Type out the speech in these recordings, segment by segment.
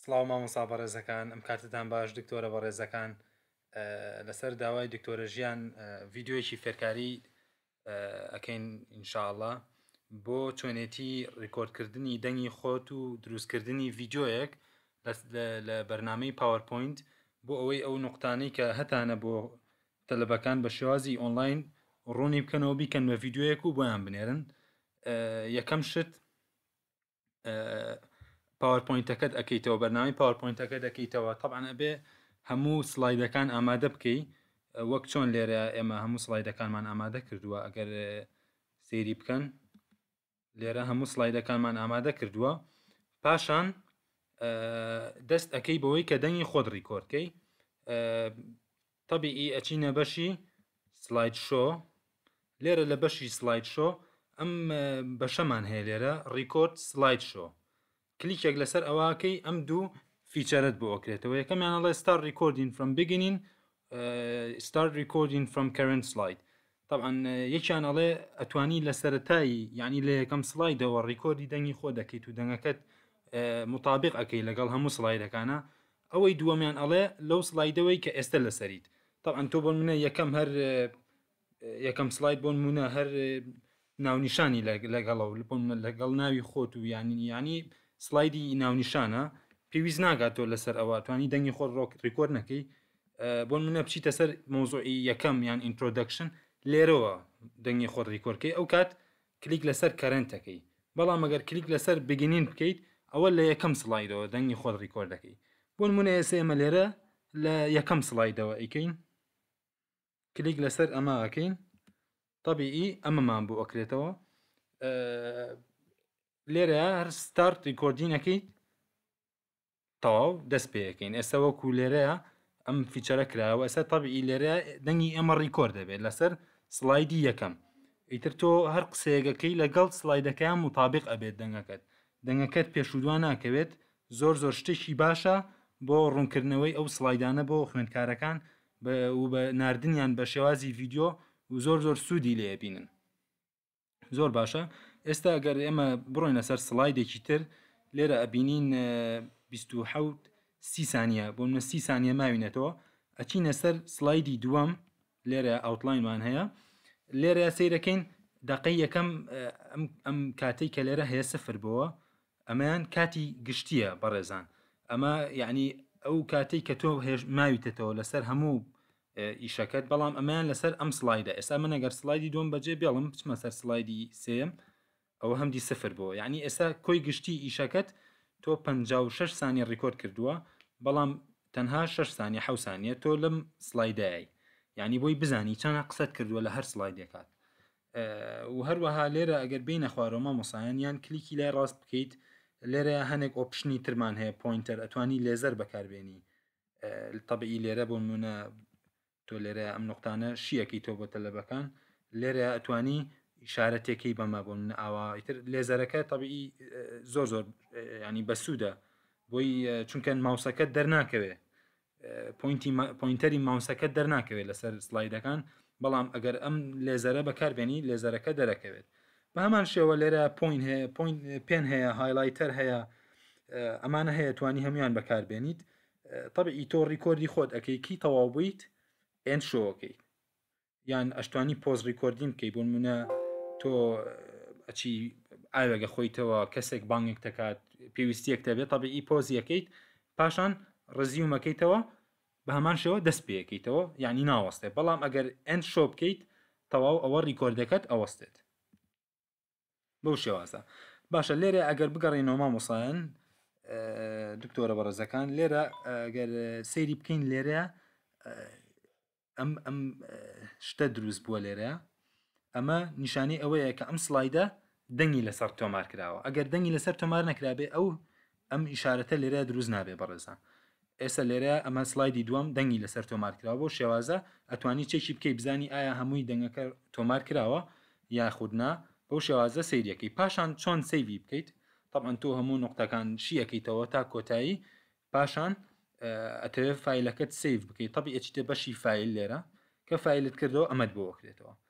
سڵاو مامۆسا بەڕێزەکان ئەم کاتتان باش دکتۆرە بەڕێزەکان لەسەر داوای دکتۆرە ژیان ڤیددیوەکی فێرکاری ئەەکەین انشاءله بۆ چۆنێتی ڕیکۆردکردنی دەنگی خۆت و دروستکردنی ڤیددیوەک لە بەرنمەی پاوەرپۆینت بۆ ئەوەی ئەو نقطانەی کە هەتانە بۆ تەلبەکان بە شێوازی ئۆنلاین ڕوونی بکەنەوە بیکەن بە ڤیددیوەک و بۆیان بنێرن یەکەم شت پاوەرپۆینتەکەت ئەەکەیتەوە بەرنامی پاوەرپۆینتەکە دەکەیتەوە تەبان ئەبێ هەموو سلایدەکان ئامادە بکەی وەک چۆن لێرە ئێمە هەموو سلایدەکانمان ئامادە کردووە ئەگەر سێری بکەن لێرە هەموو سلایدەکانمان ئامادە کردووە پاشان دەست ئەەکەی بەوەی کە دەنگی خۆت ڕیکۆرکەی تەبیئی ئەچینە بەشی سڵاید شۆ لێرە لە بەشی سڵاید شۆ ئەم بەشەمان هەیە لێرە ڕیکۆرد سڵاید شۆ کلیکێک لەسەر ئەوەکەی ئەم دوو فیچەرت بۆ ئەکرێتەوە یەکەمیان ئەڵێ ستار ڕیکۆردین فرم بگینین ستار ڕیکۆردین فرم کەرنت سڵاید تەبعەن یەکیان ئەڵێ ئەتوانی لە سەرەتایی یعنی لە یەکەم سلایدەوە ڕیکۆردی دەنگی خۆ دەکەیت و دەنگەکەت مطابق ئەەکەی لەگەڵ هەموو سلایدەکانە ئەوەی دووەمیان ئەڵێ لەو سلایدەوەی کە ئێستا لەسەریت تەعاان تۆ بۆ منە یەکەم هەر یەکەم سلاید بۆن منە هەر ناونیشانی لەگەڵە و لەپۆن لەگەڵ ناوی خۆت و یانی ینی سلایدی ناونیشانە پێویست ناگات تۆ لەسەر ئەوە توانی دەنگی خۆ ڕۆک ڕیکۆر نەکەی بۆ منە بچیتە سەر مۆزۆعی یەکەم یان ئینترۆدەکشن لێرەوە دەنگی خۆ ڕیکۆرکەی ئەو کات کلیک لەسەر کەرنتەکەی بەڵام ئەگەر کلیک لەسەر بگینین بکەیت ئەوە لە یەکەم سلایدەوە دەنگی خۆت ڕیکۆرد دەکەی بۆ منە ئێسە ئێمە لێرە لە یەکەم سلایدەوە ئەیکەین کلیک لەسەر ئەمە ئەکەین طبیعی ئەمەمان بۆ ئەکرێتەوە لێرە هەر ستارت ڕیکۆردینەکەی تەواو دەست پێەکەین ئێستا وەکو لێرەیە ئەم فیچەرە کراوە ئێستا تەبی لێرە دەنگی ئێمە ڕیکۆرد دەبێت لەسەر سلایدی یەکەم ئیتر تۆ هەر قسەیەگەکەی لەگەڵ سلایدەکەیان مطابق ئەبێت دەنگەکەت دەنگەکەت پێشودوان ناکەوێت زۆر زۆر شتێکی باشە بۆ ڕوونکردنەوەی ئەو سلایدانە بۆ خوێندکارەکان بە نردنیان بە شێوازی ڤیددیو و زۆر زۆر سوودی لێبینن زۆر باشە ئێستا گەر ئێمە بڕۆینە سەر سلایدێکی تر لێرە ئەبینین 1970 سی سانیە بۆ منە سی سانیە ماوینەتەوە ئەچینە سەر سلایدی دووەم لێرە ئەوتلاینمان هەیە لێرە سیرەکەین دقی یەکەم ئەم کاتێک کە لێرە هەیە سفر بووە ئەمەیان کاتی گشتیە بەڕێزان ئەمە یعنی ئەو کاتێک کە تۆ هێش ماویتەتەوە لەسەر هەموو ئیشەکەت بەڵام ئەمەیان لەسەر ئەم سلایدە ئێستا من ئەگەر سلایدی دوم بەجێ بێڵم بچمە سەر سلایدی سێم ئەوە هەمدی سفر بۆ یعنی ئێستا کۆی گشتی ئیشەکەت تۆ 56 سانی ڕیکۆرد کردووە بەڵام تەنها 6 سانی حە سانیە تۆ لەم سلایدایی یعنی بۆی بزانی چەنە قسەت کردووە لە هەر سلایدێکات و هەروەها لێرە ئەگەر بینە خوارەوە مامۆسایان یان کلیکی لای ڕاست بکەیت لێرە هەنێک ئۆپشنی ترمان هەیە پوینتەر ئەتوانی لێزەر بەکاربێنی تەبیی لێرە بۆ منە تۆ لێرە ئەم نقطانە شیەکەی تۆ بۆ تەلەبەکان لێرە ئەتوانی شارەتێکی بەمە بۆ من ئاواتر لێزەرەکە تەبیی زۆر زۆر ینی بەسوودە بۆی چونکە ماوسەکە دەرناکەوێ پوینتی پوینتەری ماوسەکە دەرناکەوێت لەسەر سلایدەکان بەڵام ئەگەر ئەم لێزەرە بەکاربێنی لێزەرەکە دەرەکەوێت بە هەمان شێوە لێرە پوین هەیە پوین پێن هەیە هایلایتەر هەیە ئەمانە هەیە توانی هەمویان بەکاربێنیت طبعی تۆ ڕیکۆردی خۆت ئەەکەی کی تەواو بوویت ئێن شۆکەی یان ئەشتوانی پۆز ڕیکۆردین بکەی بۆ منە تۆ ئەچی ئاوێگە خۆیتەوە کەسێک بانگێک دەکات پێویستیەک دەبێت طبعی پۆزیەکەیت پاشان ڕزیومەکەیتەوە بە هەمان شێوە دەست پێکەیتەوە یانی ناوەستێ بەڵام ئەگەر end show بکەیت تەواو ئەوە ڕیکۆردەکەت ئەوەستێت بەو شێوازە باشە لێرە ئەگەر بگەڕێنەوە مامۆسایەن دکتۆرە بەڕێزەکان لێرە ئەگەر سەیری بکەین لێرە ئەم ئەم شتە دروست بووە لێرە ئەمە نیشانی ئەوەیە کە ئەم سلایدە دەنگی لەسەر تۆمار کراوە ئەگەر دەنگی لەسەر تۆمار نەکرابێ ئەو ئەم ئیشارەتە لێرە دروست نابێ بەڕێزان ئێستا لێرە ئەمە سلایدی دووەم دەنگی لەسەر تۆمار کراوە بۆ شێوازە ئەتوانی چێکی بکەی بزانی ئایا هەمووی دەنگەکە تۆمار کراوە یاخودنا بۆ شێوازە سەیریەکەی پاشان چۆن سەیری بکەیت طبعا تۆ هەموو نقطەکان شیەکەیتەوە تا کۆتایی پاشان ئەتەوێت فیلەکەت سیف بکەیت طبی ئەچیتە بەشی فیل لێرە کە فیلت کردەوە ئەمەد بۆ وەکرێتەوە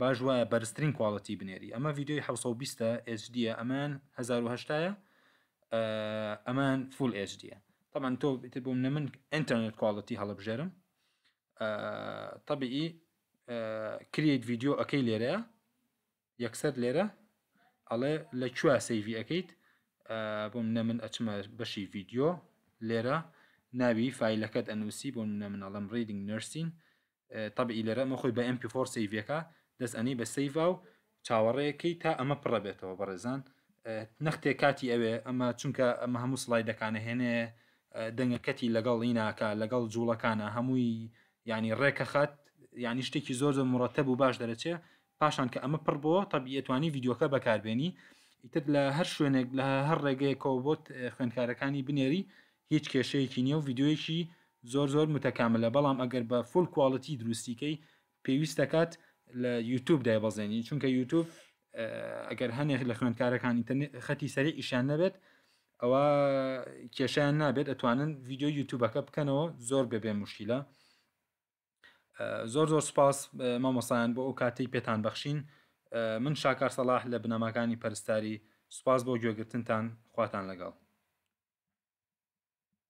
باش وایە بەرزترین کواڵتی بنێری ئەمە ڤیدیۆی حەوت سەد و بیست HD یە ئەمان هەزار و هەشتا یە ئەمان فول HD یە طبعا تۆ تر بۆ منە من ئینتەرنێت کواڵتی هەڵبژێرم طبیعی کریت ڤیدیۆ ئەەکەی لێرەیە یەکسەر لێرە ئەڵێ لە کوێ سەیڤی ئەەکەیت بۆ منە من ئەچمە بەشی ڤیدیۆ لێرە ناوی فیلەکەت ئەنووسی بۆ منە منەڵم ریدنگ نرسین تەبعی لێرە ئەمە خۆی بە ئێم پی فۆڕ سەیڤەکە دەست ئەنی بە سەیڤا و چاوەڕێیەکەی تا ئەمە پڕە بێتەوە بەڕێزان نەختێ کاتی ئەوێ ئەمە چونکە ئەمە هەموو سڵای دەکانە هێنێ دەنگەکەتی لەگەڵ ئیناکە لەگەڵ جوڵەکانە هەمووی ینی ڕێکە خات ینی شتێکی زۆر زۆر مڕەتە بوو باش دەرەچێ پاشان کە ئەمە پڕ بۆ تەبیەتوانی یددیوکە بەکاربێنی ئیتر لە هەر شوێنێک لە هەر ڕێگەیەکەوە بۆت خوێندکارەکانی بنێری هیچ کێشەیەکی نیە و ڤیدیۆیەکی زۆر زۆر متەکاملە بەڵام ئەگەر بە فول کواڵیتی دروستی کەی پێویست دەکات لە یوتوب دایبەزێنی چونکە یوتوب ئەگەر هەنێک لە خوێندکارەکان ئینتەرنێت خەتی سەری ئیشان نەبێت ئەوە کێشیان نابێت ئەتوانن ڤیددیو یوتوبەکە بکەنەوە زۆر بەبێ مشکیلە زۆر زۆر سوپاس مامۆسایان بۆ ئەو کاتەی پێتان بەخشین من شاکار سەلاح لە بنەماکانی پەرستاری سوپاس بۆ گوێگرتنتان خواتان لەگەڵ